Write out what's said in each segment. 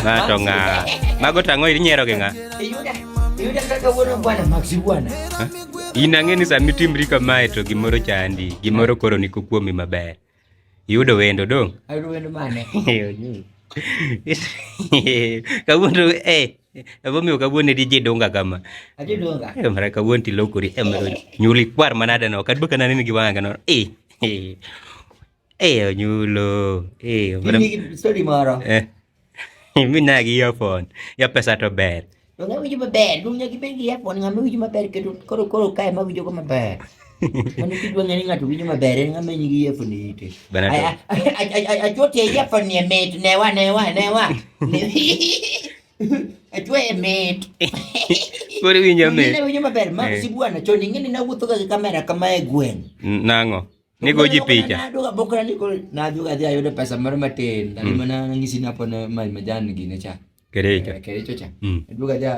Na to nga. Mago tango iri nyero ke nga. Yuda. Yuda kaka wono bwana Maxi bwana. In ang'e ni sami timri kamae to gimoro chandi, gimoro koro ni kuomi maber. Yudo wendo dong. Ayudo wendo mane? Kawuono eh Emomiyo kawuono edi ji dunga kama. Aji dunga. Eh, mara kawuono ti lokori. Eh, mara nyuli kwar manada no. Kadwa kana nini giwanga no. Eh. Eh. Eh, onyulo. Eh, mara. Mimi story moro. Eh. Mimi na gi earphone. Ya pesa to ber. Donge winjo maber, dunya gi bengi earphone ng'ama winjo maber kendo koro koro kae ma winjo go maber. Mano kidwa ng'e ni ng'ato winjo maber en ng'ama nyigi earphone e ite. Bana to. A- a- a- a- a- Achuo tie earphone ni e mit newa newa newa. Achuo e mit. Koro iwinjo mit. Ng'e winjo maber ma Eh. si bwana chon ing'e ni nawuotho ga gi kamera kama e gweng'. N- Nang'o? Nigo ji picha. Naduoga bokra ni koro naduoga dhi ayudo pesa moro matin. Dali mana ng'isi ni hapo na ma- majan gine cha. Kerecha. Eh, Kerecha cha. Mm. Duka ja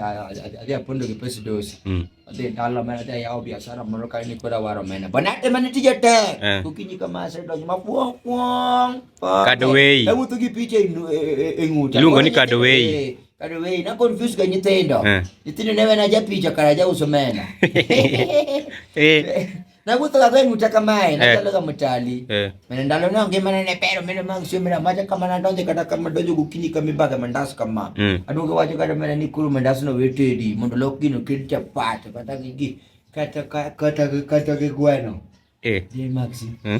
aja pondo ke pes dos. Mm. Ade dala mena ja yao biashara mono kai ni kora waro mena. Bana te mena tija te. Eh. Kukinyi kama se do ma puong puong. Kadowei. Tamu tu ki piche inu e, e, nguta. Lungo ni kadowei. Eh, kadowei na confuse ga nyitendo. Nyitendo ne mena ja picha kara ja uso mena. Eh. na guthaga gwe nyuta kamae na eh. talaga mutali eh. mena ndalo na nge mana ne pero mena mang sio mena maja kama na ndonje kada kama ndonje gukini kama baga mandas kama mm. aduga waje kada mena ni kuru mandas no wetedi mondo lokino kircha pat kata gigi kata kata kata gigweno eh ni maxi mm.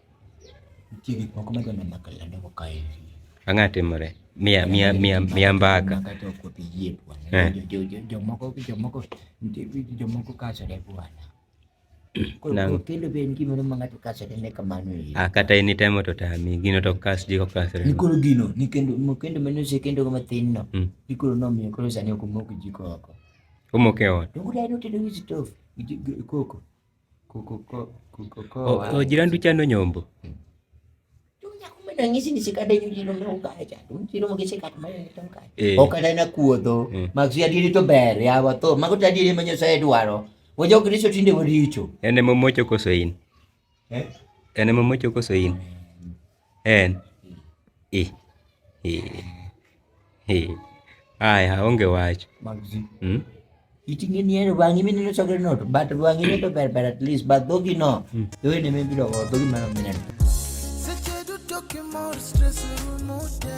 Nitie gik moko madwa neno ka yande ko kae. Ang'a timore. Mia mia mia mia mbaka. Kata ok opi yie bwana. Eh. Jo jo jo moko jo moko jo moko kaso de bwana. Nang. Kendo be en gimoro ma ng'ato kasore ne kamano e. Ah, kata in itemo to tami, gino to kas ji ko kasore. Ni koro gino, ni kendo mo kendo mano se kendo kama tin no. Mm. Ni koro no mi koro sani ok moko ji ko oko. Omoke ot. To kudai no tedo gi stove, koko. ogira ndu chano nyombo ranyisi ni sikada nyu jino me ukacha dum jino mo gise kat mai to ukacha eh. okada na kuodho eh. magsi adiri to ber ya wa to mago tadiri manyo sa edwaro wo jo kristo tinde waricho ene mo mocho koso in eh ene mo mocho koso in en i i i aya onge wach mm? iting'e ni en wang'i mineno chokre no to but wang'i ne to ber ber at least but dhogi no mm. dhogi ne mibiro go dhogi mano mineno seche duto kimor stress rumo te